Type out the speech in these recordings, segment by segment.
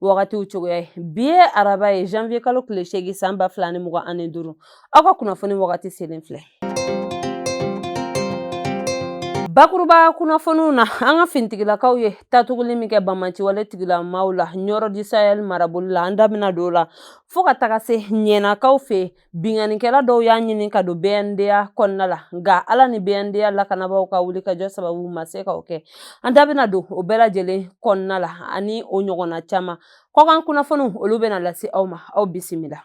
wagatiw cogoya ye bi ye araba ye janvier kalo tile seegin san ba fila ni mugan ani duuru aw ka kunnafoni wagati selen filɛ bakuruba kunnafoniw na an ka finitigilakaw ye tatuguli min kɛ bamanciwale tigilamaaw la nioro du sahel marabolo la an da bɛna don o la fo ka taga se ɲɛnakaw fɛ Binkannikɛla dɔw y'a ɲini ka don bnda kɔnɔna la nka ala ni bnda lakanabaaw ka wulikajɔ sababu ma se ka o kɛ an da bɛna don o bɛɛ lajɛlen kɔnɔna la ani o ɲɔgɔnna caman kɔkan kunnafoniw olu bɛna lase aw ma aw bisimila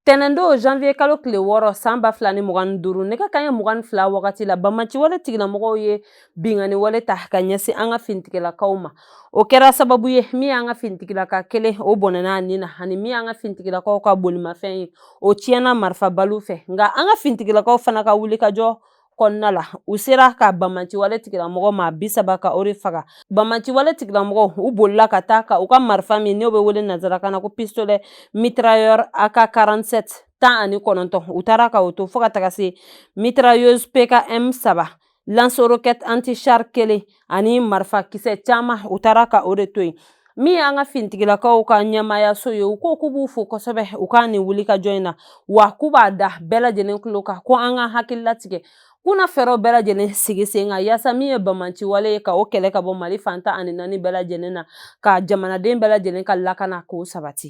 tɛnɛndo janvier kalo tile wɔɔrɔ san ba fila ni mugan ni duuru nɛgɛ kanɲɛ mugan ni fila wagati la bamanciwale tigilamɔgɔw ye binkanni wale ta ka ɲɛsin an ka finitigilakaw ma o kɛra sababu ye min y'an ka finitigilaka kelen o bɔnɛna a nin na ani min y'an ka finitigilakaw ka bolimafɛn ye o tiɲɛna marifabaliw fɛ nka an ka finitigilakaw fana ka wulikajɔ kɔnɔna la u sera ka bamanciwale tigilamɔgɔ maa bi saba ka o de faga bamanciwale tigilamɔgɔw u bolila ka taa ka u ka marifa min n'o bɛ wele nanzarakan na ko pistolet mitrailleur ak 47 tan ani kɔnɔntɔn u taara ka o to fo ka taga se mitrailleuse pkm saba lance-roquette antichar kelen ani marifa kisɛ caman u taara ka o de to yen min y'an ka fintigilakaw ka ɲɛmaayaso ye u ko k'u b'u fo kosɛbɛ u ka nin wulikajɔ in na wa k'u b'a da bɛɛ lajɛlen tulo kan ko an ka hakili latigɛ k'u na fɛɛrɛw bɛɛ lajɛlen sigi sen kan yaasa min ye bamanciwale ye ka o kɛlɛ ka bɔ mali fan tan ani naani bɛɛ lajɛlen na ka jamanaden bɛɛ lajɛlen ka lakana k'o sabati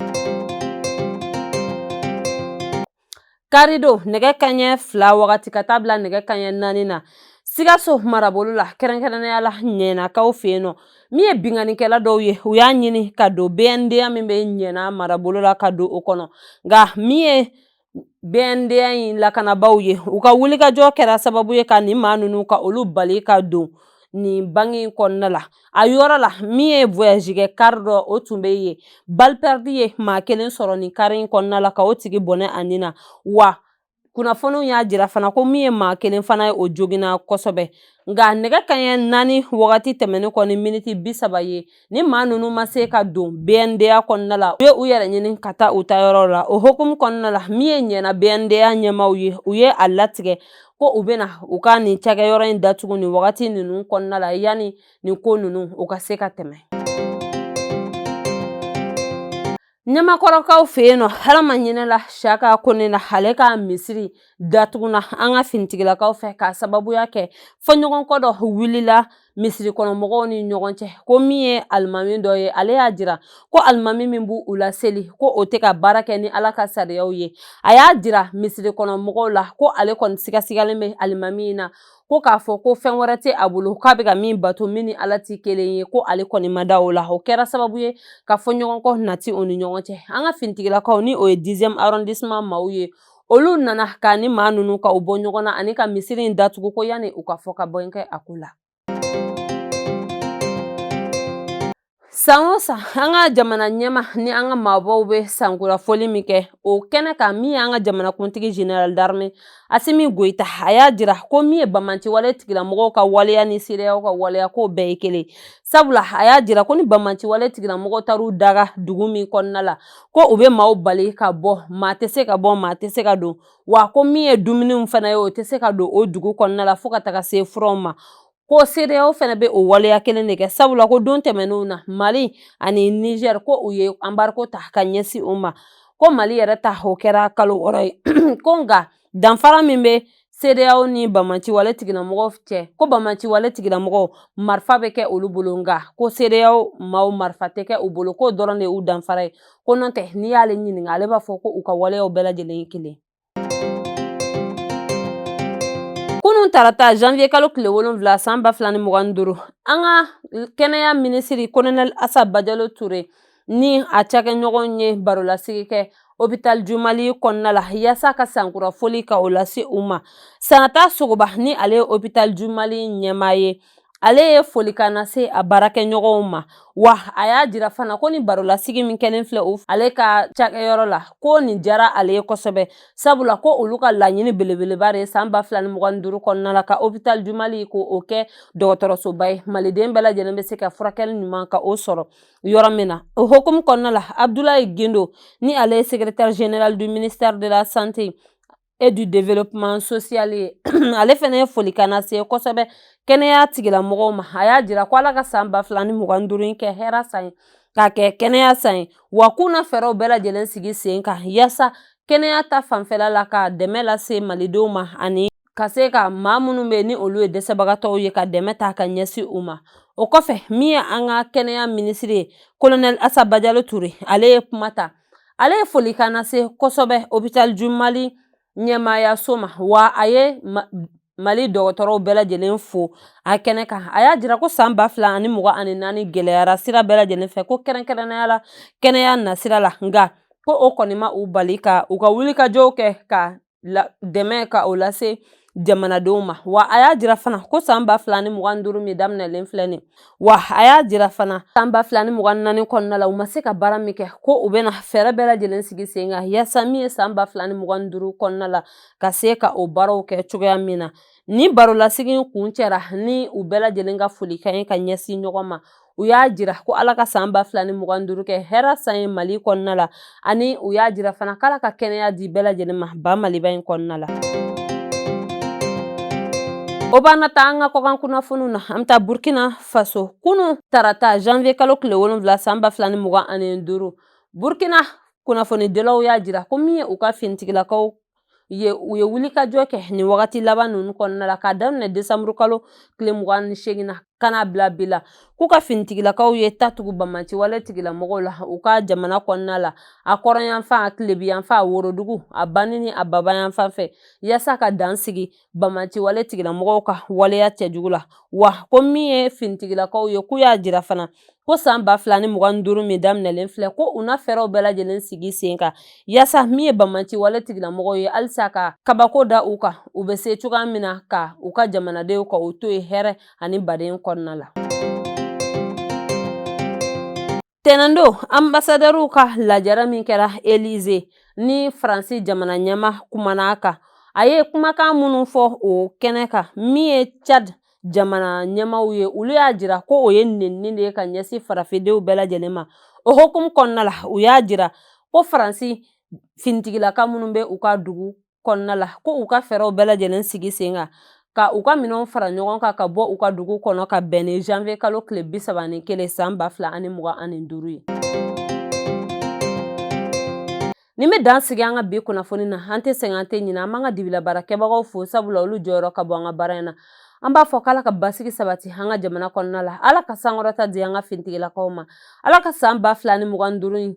Karido nɛgɛ kanɲɛ fila wagati ka taa bila nɛgɛ kanɲɛ naani na sikaso marabolo la kɛrɛnkɛrɛnnenya la ɲɛnakaw fɛ yen nɔ min ye binkannikɛla dɔw ye u y'a ɲini ka don bnda min bɛ ɲɛna marabolo la ka don o kɔnɔ nka min ye bnda in lakanabaaw ye u ka wulikajɔ kɛra sababu ye ka nin maa ninnu ka olu bali ka don nin banki in kɔnɔna la a yɔrɔ la min ye voyage kɛ kari dɔ o tun bɛ yen balle perdue ye maa kelen sɔrɔ nin kari in kɔnɔna la ka o tigi bɔnɛ a nin na wa kunnafoniw y'a jira fana ko min ye maa kelen fana ye o joginna kosɛbɛ nka nɛgɛ kanɲɛ naani wagati tɛmɛnen kɔ ni miniti bi saba ye nin maa ninnu ma se ka don bnda kɔnɔna la u ye u yɛrɛ ɲini ka taa u ta yɔrɔ la o hukumu kɔnɔna la min ye ɲɛna bnda ɲɛmaaw ye u ye a latigɛ ko u bɛna u ka nin cakɛyɔrɔ in datugu nin wagati ninnu kɔnɔna la yanni nin ko ninnu u ka se ka tɛmɛ ɲamakɔrɔkaw fɛ yen nɔ ala ma hinɛla shaka kone na ale ka misiri datuguna an ka finitigilakaw fɛ k'a sababuya kɛ fɔɲɔgɔnkɔ dɔ wulila misiri kɔnɔ mɔgɔw ni ɲɔgɔn cɛ ko min ye alimami dɔ ye ale y'a jira ko alimami min b'u laseli ko o tɛ ka baara kɛ ni ala ka sariyaw ye a y'a jira misiri kɔnɔ mɔgɔw la ko ale kɔni sigasigalen bɛ alimami in na ko k'a fɔ ko fɛn wɛrɛ tɛ a bolo k'a bɛ ka min bato min ni ala tɛ kelen ye ko ale kɔni ma da o la o kɛra sababu ye ka fɔɲɔgɔnkɔ nati u ni ɲɔgɔn cɛ an ka finitigilakaw ni o ye dixième arrondissement maaw ye olu nana ka ni maa ninnu ka u bɔ ɲɔgɔn na ani ka misiri in datugu ko yanni u ka fɔkabɛn kɛ a ko la san o san an ka jamana ɲɛmaa ni an ka maabaw bɛ sankurafoli min kɛ o kɛnɛ kan min y'an ka jamanakuntigi général d'armée asimi goyita a y'a jira ko min ye banbaanciwale tigilamɔgɔw ka waleya ni CEDEAO ka waleya k'o bɛɛ ye kelen sabula a y'a jira ko ni banbaanciwale tigilamɔgɔw taar'u daga dugu min kɔnɔna la ko u bɛ maaw bali ka bɔ maa tɛ se ka bɔ maa tɛ se ka don wa ko min ye dumuniw fana ye o tɛ se ka don o dugu kɔnɔna la fo ka taga se furaw ma ko CEDEAO fana bɛ o waleya kelen de kɛ sabula ko don tɛmɛnenw na mali ani niger ko u ye embargo ta ka ɲɛsin u ma ko mali yɛrɛ ta o kɛra kalo wɔɔrɔ ye ko nka danfara min bɛ CEDEAO ni banbaanciwale tigilamɔgɔw cɛ ko banbaanciwale tigilamɔgɔw marifa bɛ kɛ olu bolo nka ko CEDEAO maaw marifa tɛ kɛ u bolo k'o dɔrɔn de y'u danfara ye ko n'o tɛ n'i y'ale ɲininka ale b'a fɔ ko u ka waleyaw bɛɛ lajɛlen ye kelen kunun tarata janvier kalo tile wolonwula san ba fila ni mugan ni duuru an ka kɛnɛya minisiri kolonɛli asa bajalo ture ni a cakɛɲɔgɔn ye barolasigi kɛ hôpital du Mali kɔnɔna la yaasa ka sankura foli ka o lase u ma Sanata Sogoba ni ale ye hôpital du Mali ɲɛmaa ye ale ye folikan lase a baarakɛɲɔgɔnw ma wa a y'a jira fana ko nin barolasigi min kɛlen filɛ ale ka cakɛyɔrɔ la ko nin jara ale ye kosɛbɛ sabula ko olu ka laɲini belebeleba de ye san ba fila ni mugan ni duuru kɔnɔna la ka hôpital du Mali ka o kɛ dɔgɔtɔrɔsoba ye maliden bɛɛ lajɛlen bɛ se ka furakɛli ɲuman ka o sɔrɔ yɔrɔ min na o hukumu kɔnɔna la abudulayi gindo ni ale ye secrétaire général du ministère de la santé et du développement social ye ale fana ye folikan lase kosɛbɛ kɛnɛya tigilamɔgɔw ma a y'a jira ko ala ka san ba fila ni mugan duuru in kɛ hɛra san ye k'a kɛ kɛnɛya san ye wa k'u na fɛɛrɛw bɛɛ lajɛlen sigi sen kan yaasa kɛnɛya ta fanfɛla la ka dɛmɛ lase malidenw ma ani ka se ka maa minnu bɛ ni olu ye dɛsɛbagatɔw ye ka dɛmɛ ta ka ɲɛsin u ma o kɔfɛ min ye an ka kɛnɛya minisiri ye kolonɛli asa bajalo ture ale ye kuma ta ale ye folikan lase kosɛbɛ hôpital du Mali ɲɛmaayaso ma wa a ye mali dɔgɔtɔrɔw bɛɛ lajɛlen fo a kɛnɛ kan a y'a jira ko san ba fila ani mugan ani naani gɛlɛyara sira bɛɛ lajɛlen fɛ ko kɛrɛnkɛrɛnnenya la kɛnɛya nasira la nka ko o kɔni ma u bali ka u ka wulikajɔw kɛ ka dɛmɛ ka o lase jamanadenw ma wa a y'a jira fana ko san ba fila ni mugan duuru min daminɛlen filɛ nin wa a y'a jira fana san ba fila ni mugan naani kɔnɔna la u ma se ka baara min kɛ ko u bɛna fɛɛrɛ bɛɛ lajɛlen sigi sen kan yaasa min ye san ba fila ni mugan duuru kɔnɔna la ka se ka o baaraw kɛ cogoya min na ni barolasigi kun cɛra ni u bɛɛ lajɛlen ka folikan ye ka ɲɛsin ɲɔgɔn ma u y'a jira ko ala ka san ba fila ni mugan duuru kɛ hɛrɛ san ye mali kɔnɔna la ani u y'a jira fana k'ala ka kɛnɛya di bɛɛ lajɛlen ma ba maliba in kɔnɔna la o b'an na taa an ka kɔkan kunnafoniw na an bɛ taa burkina faso kunun tarata janvier kalo tile wolonwula san ba fila ni mugan ani duuru burkina kunnafonidilaw y'a jira ko min ye u ka finitigilakaw ye u ye wulikajɔ kɛ nin wagati laban ninnu kɔnɔna la k'a daminɛ desanburu kalo tile mugan ni seegin na ka n'a bila bi la k'u ka finitigilakaw ye ta tugu banbaanci wale tigilamɔgɔw la u ka jamana kɔnɔna la a kɔrɔnyanfan a tilebiyanfan a worodugu a banni ni a babayanfan fɛ yaasa ka dan sigi banbaanci wale tigilamɔgɔw ka waleya cɛjugu la wa ko min ye finitigilakaw ye k'u y'a jira fana ko san ba fila ni mugan ni duuru min daminɛlen filɛ ko u na fɛɛrɛw bɛɛ lajɛlen sigi sen kan yaasa min ye banbaanci wale tigilamɔgɔw ye halisa ka kabako da u kan u bɛ se cogoya min na ka u ka jamanadenw ka u to ye hɛrɛ ani baden kɔnɔna la Tɛnɛn don anbasadɛriw ka lajɛrɛ min kɛra Elize ni Faransi jamana ɲɛmaa kumana a kan a ye kumakan minnu fɔ o kɛnɛ kan min ye Chad jamana ɲɛmaaw ye olu y'a jira ko o ye nenini de ye ka ɲɛsin farafindenw bɛɛ lajɛlen ma o hukumu kɔnɔna la u y'a jira ko Faransi finitigilaka minnu bɛ u ka dugu kɔnɔna la ko u ka fɛɛrɛw bɛɛ lajɛlen sigi sen kan ka u ka minɛnw fara ɲɔgɔn kan ka bɔ u ka dugu kɔnɔ ka bɛn ni janvier kalo tile bi saba ni kelen san ba fila ani mugan ani duuru ye nin bɛ dan sigi an ka bi kunnafoni na an tɛ sɛgɛn an tɛ ɲinɛ an b'an ka dibila baarakɛbagaw fo sabula olu jɔyɔrɔ ka bon an ka baara in na an b'a fɔ k'ala ka basigi sabati an ka jamana kɔnɔna la ala ka sankɔrɔta di an ka finitigilakaw ma ala ka san ba fila ni mugan duuru in